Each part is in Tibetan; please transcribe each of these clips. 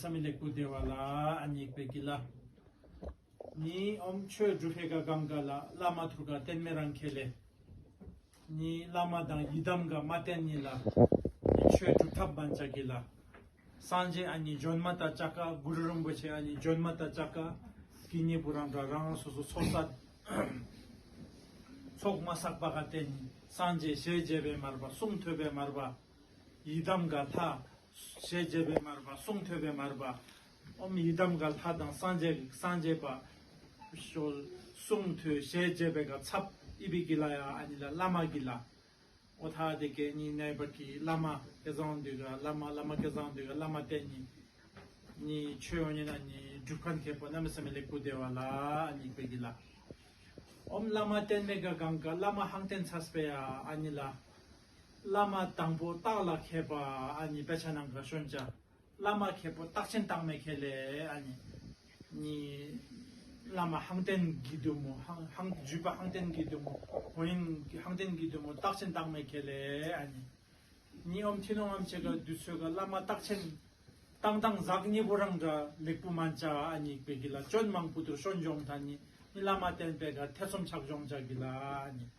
ས་མི་ལེགས་པོ་བདེ་བ་ལ་སྙེགས་པའི་དཀྱིལ། གཉིས་འོམ་ཆོས་སྒྲུབ་བྷེ་ག་གམ་ག་ལ་བླ་མ་ཐུར་ག་བསྟན་མེ་རང་ཁེ་ལས། གཉིས་བླ་མ་དང་ཡི་དམ་ག་མ་བསྟན་གཉིས་ལ། གཉིས་ཆོས་སྒྲུབ་ཐབས་མན་ལྕགས་ཀྱི་ལ། སངས་རྒྱས་ཨ་ནི་ལྗོན་མ་ཏཱ་ལྕགས་ཀ་གུ་རུ་རིན་པོ་ཆེ་ཨ་ནི་ལྗོན་མ་ཏཱ་ལྕགས་ཀ། གི་གཉིས་པོ་རང་འདྲ་རང་རང་སོ་སོ་ཚོགས་བསགས། ཚོགས་མ་བསགས་པ་ག་བསྟན་གཉིས་སངས་རྒྱས་ཞལ་མཇལ་བས་མར་པ་གསུང་ཐོས་པས་མར་པ། ཡི་དམ་ག་དྷ། ཞེས་རྒྱས་པས་མར་པ། གསུང་ཐོས་པས་མར་པ། ཨོམ་ཡི་དམ་ག་དྷ་དང་སངས་རྒྱས་ཀྱི་སངས་རྒྱས་པ། གསུང་ཐོས་ཞེས་རྒྱས་པས་ག་ཚབ་ཨི་བི་ཀི་ལ་ཡ་ཨ་ནི་ལ་བླ་མ་ཀི་ལ། ཨོ་དྷ་དེ་གས་ནི་གནས་པ་ཀི་བླ་མ་ཀེ་བཟང་འདུས་ག་བླ་མ་བླ་མ་ཀེ་བཟང་འདུས་ག་བླ་མ་དེ་ནི། ནི་ཆོས་ཨོ་ཉི་ན་ནི་སྒྲུབ་ཁ་མཁས་པོ་རྣམ་སེམས་ལེགས་པོ་བདེ་བ་ལ་ཨ་ནི་བི་ཀི་ལ། ཨོམ་བླ་མ་བརྟན་མེད་ག་གང་ག་བླ་མ་ཧཱང་ཏེན་ཚ་སྤེ་ཡ་ཨ་ནི་ལ། བླ་མ་དང་པོ་རྟགས་ལ་མཁས་པ་ཨ་ནི་དཔེ་ཆ་ནང་ག་ཤོན་བྱ། བླ་མ་མཁས་པོ་རྟགས་ཆེན་རྟགས་མེད་མཁས་ལས་ཨ་ནི། གཉིས། བླ་མ་ཧང་ཏན་གྱི་གདོད་མོ་ཧང། བརྒྱུད་པ་ཧང་ཏན་གྱི་གདོད་མོ་ཧོ་ཡིན། ཧང་ཏན་གྱི་གདོད་མོ་རྟགས་ཆེན་རྟགས་མེད་མཁས་ལས་ཨ་ནི། གཉིས་ཨོམ་ཐི་ནོང་ཨམ་ཆད་ཀ་དུས་ཚོད་ཀ་བླ་མ་རྟགས་ཆེན། རྟགས་དང་ཟག་གཉིས་པོ་རང་འདྲ་ལེགས་པོ་མ་བྱ་ཨ་ནི་དཔེ་གྱི་ལ་སྤྱོད་མང་པོ་དུར་ཤོ་འཇོམས་ད་ནི། གཉིས་བླ་མ་བསྟན་པའི་གར་ཐེ་ཚོམ་ཆགས་སྦྱོང་བྱ་གྱི་ལ་ཨ་ནི།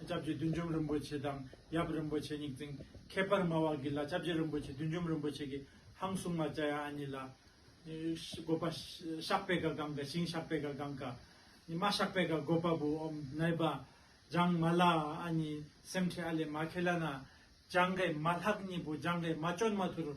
ལྕགས་ཀྱི་བདུད་འཇོམས་རིན་པོ་ཆེ་དང་ཡབ་རིན་པོ་ཆེ་གཉིས་བཙུན། ཁྱད་པར་མ་བ་གི་ལ་ལྕགས་ཀྱི་རིན་པོ་ཆེ་བདུད་འཇོམས་རིན་པོ་ཆེ་གི་ཧང་སུང་མ་བཅའ་ཡང་ཨ་ཉི་ལ། བཀོད་པ། ཤག་པའི་ག་གང་ག་ཞིང་ཤག་པའི་ག་གང་ག། ཉི་མ་ཤག་པའི་ག་བཀོད་པ་བུ་འོམ་ནལ་པ། ལྗང་མ་ལ་ཨ་ཉི་སེམས་ཁྲི་ཨ་ལས་མ་ཁེ་ལ་ན། ལྗང་གའི་མ་ལྷག་གཉིས་པོ་ལྗང་གའི་མ་ཅོན་མ་ཐུ་རུ།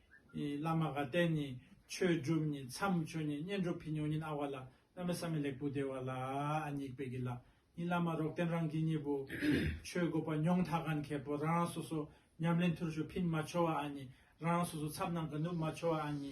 བླ་མ་དགའ་ལྡན་ནི་ཆོས་སྒྲུབ་ནི་མཚམས་སྦྱོར་ནི་བསྙེན་སྒྲུབ་ཕི་ཉོ་ཉིན་ཨ་བ་ལ་བླ་མའི་ས་མི་ལེགས་པོ་བདེ་བ་ལ་སྙིགས་པའི་གི་ལ་ནི་བླ་མ་རོགས་དན་རང་གི་གཉིས་པོ་ཆོས་སྒོ་པ་ཉོང་ཐ་ག་མཁས་པོ་རང་རང་སོ་སོ་ཉམས་ལེན་ཐུར་ཞུགས་ཕིན་མ་འཆོ་བ་ཨ་ནི་རང་རང་སོ་སོ་ཚབ་རྣམས་ག་ནུབ་མ་འཆོ་བ་ཨ་ནི།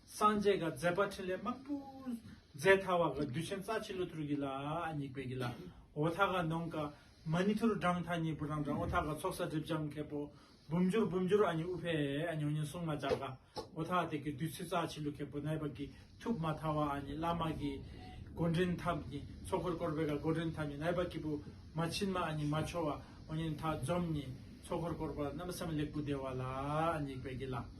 སངས་རྒྱས་ག་ཛས་པ་ཕྲིན་ལས་དམར་པོ་ཛས་ཐ་བ་ག་བདུད་ཆེན་རྩ་ཆེ་ལུ་ཐུར་གི་ལ་སྙིགས་པའི་གི་ལ་འོ་ཐ་ག་ནོངས་ཀ་མ་ནི་ཐུར་བྲང་ཐ་སྙིགས་པོ་རང་བྲང་འོ་ཐ་ག་ཚོགས་ས་སྒྲིབ་སྦྱང་ཁད་པོ་བུམ་སྦྱོར་བུམ་སྦྱོར་ཨ་ནི་ཨུ་བྷེ་ཨ་ནི་ཨོ་ནི་སྲུང་མ་བྱ་ག་འོ་ཐ་དེ་གི་བདུད་ཚུལ་རྩ་ཆེ་ལུ་ཁད་པོ་ནད་པ་གི་ཐུབ་མ་ཐ་བ་ཨ་ནི་བླ་མ་གི་སྒོ་འདྲེན་ཐ་མི་ནི་ཚོགས་འཁོར་བསྐོར་བའི་ག་སྒོ་འདྲེན་ཐ་མི་ནད་པ་གི་བུ་མ་ཕྱིན་མ་ཨ་ནི་མ་འཆོ་བ་ཨོ་ནི་ཐ་འཇོམས་ནི་ཚོགས་འཁོར་བསྐོར་བ་རྣམ་སེམས་ལེགས་པོ་བདེ་བ་ལ་སྙིགས་པའི་གི་ལ།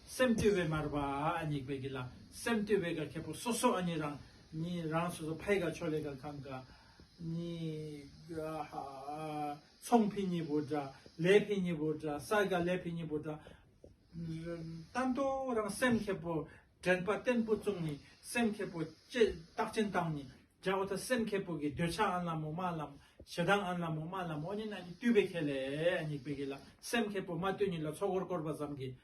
སེམས་བཏུལ་བའི་མར་པ་ཉིད་པའི་གི་ལ་སེམས་བཏུལ་བའི་ག་ཁྱེད་པོ་སོ་སོ་ཨ་ནི་རང་ནི་རང་སོ་སོ་ཕའི་ག་ཆོ་ལེ་ག་གང་ག་ནི་ཚོང་ཕི་ཉི་པོ་དྲ་ལེ་ཕི་ཉི་པོ་དྲ་སར་ག་ལེ་ཕི་ཉི་པོ་དྲ་རྟ་མདོ་རང་སེམས་ཁྱེད་པོ་དྲན་པ་བརྟན་པོ་བཙུགས་ནི་སེམས་ཁྱེད་པོ་ཅེས་རྟགས་ཅན་བཏང་ནི་བྱ་བ་ད་སེམས་ཁྱེད་པོ་གི་འདོད་ཆགས་ཨ་ལ་མོ་མ་ལ་ཞེ་སྡང་ཨ་ལ་མོ་མ་ལ་མོ་ཉིད་ཨ་ནི་བཏུལ་བའི་ཁྱེད་ལས་ཉིད་པའི་གི་ལ་སེམས་ཁྱེད་པོ་མ་བཏུལ་ཉིད་ལ་ཚོགས་འཁོར་བསྐོར་བ་ཙམ་གྱི་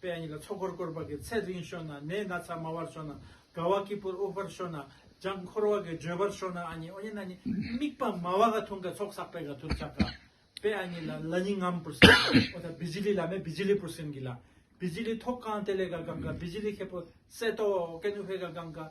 པའི་ཉིད་ལ་ཚོགས་འཁོར་བསྐོར་བ་གི་ཚེ་རིང་ཤོས་ན་ནད་སྣ་ཚ་དམའ་བར་ཤོས་ན་དགའ་བ་སྐྱིད་པོར་དབུགས་པར་ཤོས་ན་ལྗང་འཁོར་བ་གི་འགྲོས་པར་ཤོས་ན་ཨ་ཉེ་ཨོ་ཉེ་ན་ཉེ་དམིགས་པ་མ་བ་ག་ཐུང་ག་ཚོགས་བསགས་པའི་ག་དུར་བྱ་ག་པའི་ཨ་ཉིད་ལ་ལ་ཉིད་ངམ་པུར་སེམས་ཨོ་ད་བི་ཇི་ལི་ལ་མེ་བི་ཇི་ལི་པུར་སེམས་གི་ལ་བི་ཇི་ལི་ཐོག་གང་དེ་ལས་ག་གང་ག་བི་ཇི་ལི་ཁེ་པོ་སེ་ཏོ་ཨོ་ཀེ་ནུ་བྷེ་ག་གང་ག།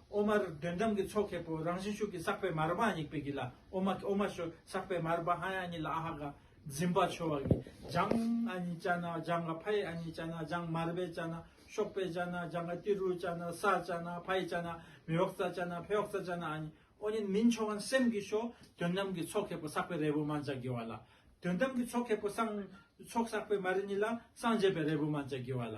ཨོ་མ་དོན་དམ་གྱི་ཚོགས་མཁས་པོ་རང་བཞིན་ཤུགས་ཀྱིས་བསགས་པའི་མར་པ་ཡིག་པའི་གིས་ལ་ཨོ་མ་ཨོ་མ་ཤོས་བསགས་པའི་མར་པ་ཧ་ཡང་གཉིས་ལ་ཨ་ཧ་ག་འཛིན་པ་ཆོས་བ་གིས་སྦྱངས། ཨ་ནི་ཅ་ན་སྦྱངས་ག་ཕ་ཡི་ཨ་ནི་ཅ་ན་སྦྱངས་མར་པའི་ཅ་ན་གཤོག་པའི་ཅ་ན་སྦྱངས་ག་ཏི་རུའི་ཅ་ན་ས་ཅ་ན་ཕ་ཡི་ཅ་ན་མི་འོག་ཙ་ཅ་ན་ཕའི་འོག་ཙ་ཅ་ན་ཨ་ནི་ཨོ་ནི་མིན་ཆོས་བ་སེམས་ཀྱི་ཤོ་དོན་དམ་གྱི་ཚོགས་མཁས་པོ་བསགས་པའི་རས་བུ་མ་འཇའ་གི་བ་ལ་དོན་དམ་གྱི་ཚོགས་མཁས་པོ་སངས་ཚོགས་བསགས་པའི་མར་གཉིས་ལ་སངས་རྒྱས་པའི་རས་བུ་མ་འཇའ་གི་བ་ལ